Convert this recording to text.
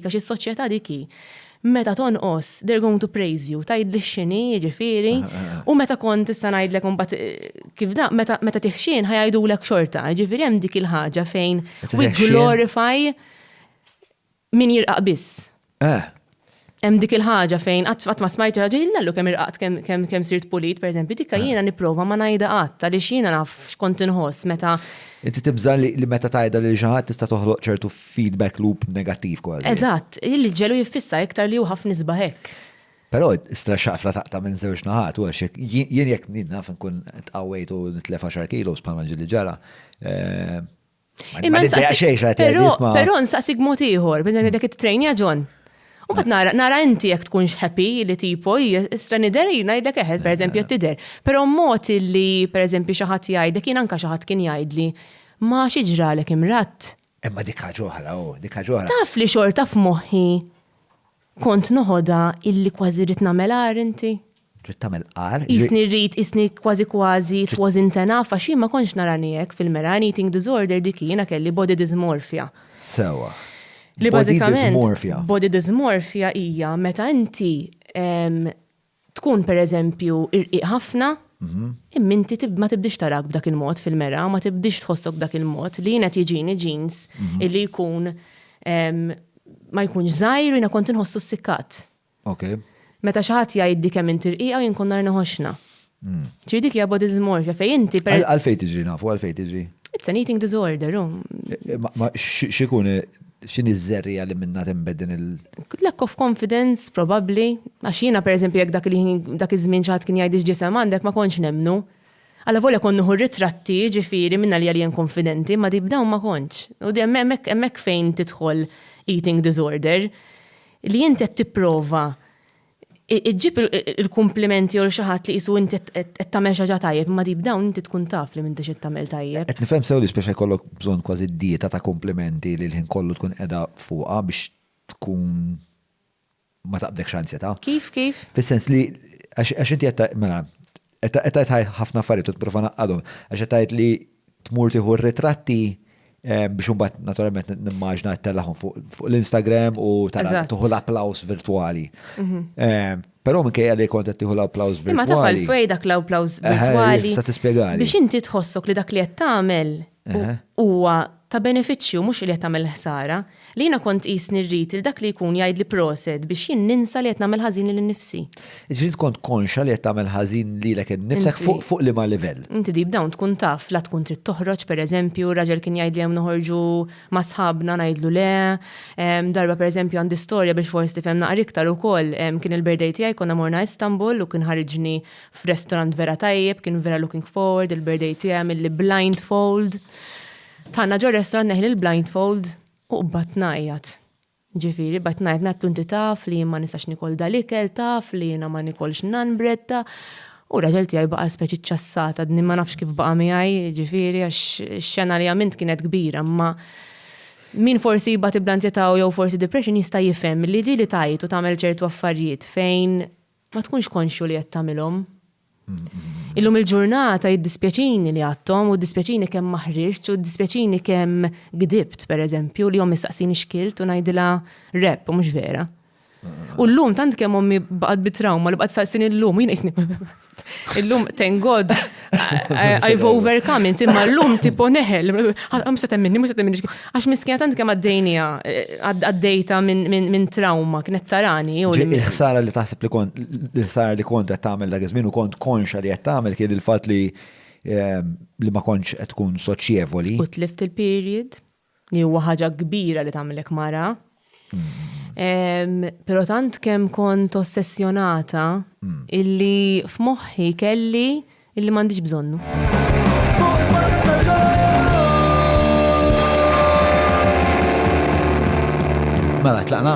Għax is-soċjetà dik hi. Meta tonqos, they're going to praise you, tgħidli x'inhi, jiġifieri, u meta kont issa ngħidlek imbagħad kif da, meta meta tiħxien ħajajdulek xorta, jiġifieri hemm dik il-ħaġa fejn we glorify min jirqaq biss. Eh. Hemm dik il-ħaġa fejn qatt ma smajt ħaġa jillallu kemm irqaqt kemm kemm sirt pulit, pereżempju, dikka eh. jiena nipprova ma ngħidha qatt għaliex jiena naf x'kont inħoss meta. Inti tibża li meta tgħidha lil xi ħadd tista' toħloq ċertu feedback loop negattiv kważi. Eżatt, li ġelu jiffissa iktar li hu ħafna isbaħ hekk. Però stra xafra taqta' minn żewġ naħat, u għax jien jekk naf nkun tqawwejt u nitlef 10 kilos bħalma ġili ġara. Eh, Imma Però nsaqsik mod ieħor, biex ngħidlek it-trejnja John. U bad nara, nara inti jek tkunx happy li tipo, istra nider jina jidek eħed, per eżempju, tider. Pero mot li, per eżempju, xaħat jajdek, jina anka xaħat kien jajdli, ma xieġralek imrat. Imma dik ħaġa oħra, oh, dik ħaġa oħra. Taf li xorta f'moħħi kont noħodha illi kważi rrid nagħmel għar inti? Trid tagħmel għar? Isni rrid, isni kważi kważi it was intenaf għax ma kontx nara nijek fil-mera eating disorder dik jiena kelli body dysmorphia. Sewa. Li bażikament body dysmorphia hija meta inti Tkun, per eżempju, irqiq ħafna, imma inti ma tibdiex tarak b'dak il-mod fil-mera, ma tibdiex tħossok b'dak il-mod, li jien qed jiġini jeans illi jkun ma jkunx żgħir u jiena kont inħossu ssikkat. Meta xi ħadd jgħidli kemm inti rqiqa u jien kont nhar inħoxxna. Ġifieri dik hija body dysmorphia fejn inti per. Għalfejn tiġri nafu, għalfejn tiġri? It's an eating disorder, hu. X'ikun X'inhi ż-żerriegħa li minnha tinbet din il-. Lack of confidence probabbli, għax jiena pereżempju jekk dak il-ħin, dak iż-żmien xi ħadd kien jgħidli x'ġisem għandek ma kontx nemmnu. Allavolja kont nieħu r-ritratti, jiġifieri, minn għalija li jien konfidenti, imma deep down ma kontx. U hemmhekk fejn tidħol eating disorder, li inti qed tipprova Iġġib il-kumplimenti għal xi ħadd li qisu inti qed tagħmel xi ħaġa tajjeb, imma deep down inti tkun taf li m'intix qed tagħmel tajjeb. Qed nifhem sew li spiss se jkollok bżonn kważi dieta ta' kumplimenti li l-ħin kollu tkun qiegħda fuqha biex tkun ma taqbdekx anzjetà. Kif, kif? Fis-sens li għax inti qed mela, Qed tgħid ħafna affarijiet u tipprova naqqadhom għax qed tgħid li tmur tieħu r-ritratti eh, biex imbagħad naturalment nimmaġna tellahom fuq l-Instagram u tara tuħu l-applaus virtwali. Mhm. Eh, Pero minn kajja li kontet tiħu l-applaus virtuali. Ma tafal fej dak l-applaus virtuali. Sa tispiegali. Biex inti tħossok li dak li qed tagħmel Huwa ta' benefiċċju mhux li qed tagħmel ħsara, li jiena kont qisni rrid lil dak li jkun jgħidli proset biex jien ninsa li qed nagħmel ħażin lil innifsi. Jiġifieri int kont konxja li qed tagħmel ħażin lilek innifsek fuq liema livell? Inti deep down tkun taf la tkun trid toħroġ pereżempju, raġel kien jgħidli hemm noħorġu ma' sħabna ngħidlu le. Darba pereżempju għandi storja biex forsi tifhem naqra iktar ukoll, kien il-birthday tiegħi konna morna Istanbul u kien ħariġni f'restorant vera tajjeb, kien vera looking forward, il-birthday tiegħi għamil li blindfold. Tanna ġo restorant neħli l-blindfold u qbad najjat. Ġifiri, bat najjat natlu inti taf li ma nistax nikol dal-ikel taf li jina ma nikolx nan bretta. U raġel tiegħi baqa' speċi ċassata, d ma nafx kif baqa' miegħi, ġifiri, għax xena li għamilt kienet kbira, ma min forsi jibgħat iblanzjetaw jew forsi depression jista' jifhem li ġili tajt u tagħmel ċertu affarijiet fejn Ma tkunx konxju li qed tagħmilhom. Illum il-ġurnata jiddispjaċini li għadthom u dispjaċini kemm ma ħriġt u dispjaċini kemm gdibt pereżempju li ommi saqsini xkilt u ngħidilha rep u mhux vera. U llum tant kemm ommi baqgħet bi trawma li baqgħet saqsini llum u jien qisni. Illum thank God I've overcome it, imma l-lum tipo neħel, għam se temminni, mu se temminni, għax miskina tant kem għaddejnija, eh, għaddejta minn trauma, kienet tarani. Il-ħsara li taħseb li kont, il-ħsara li kont għed tamel dak iż-żmien u kont konxa li għed tamel kien il-fat li ehm, li ma konċ għed tkun soċjevoli. U tlift il-period. li huwa ħaġa kbira li tagħmilek mara. Pero tant kem kont ossessjonata mm. illi f'moħħi kelli illi m'għandix bżonnu. Mela, tlaqna?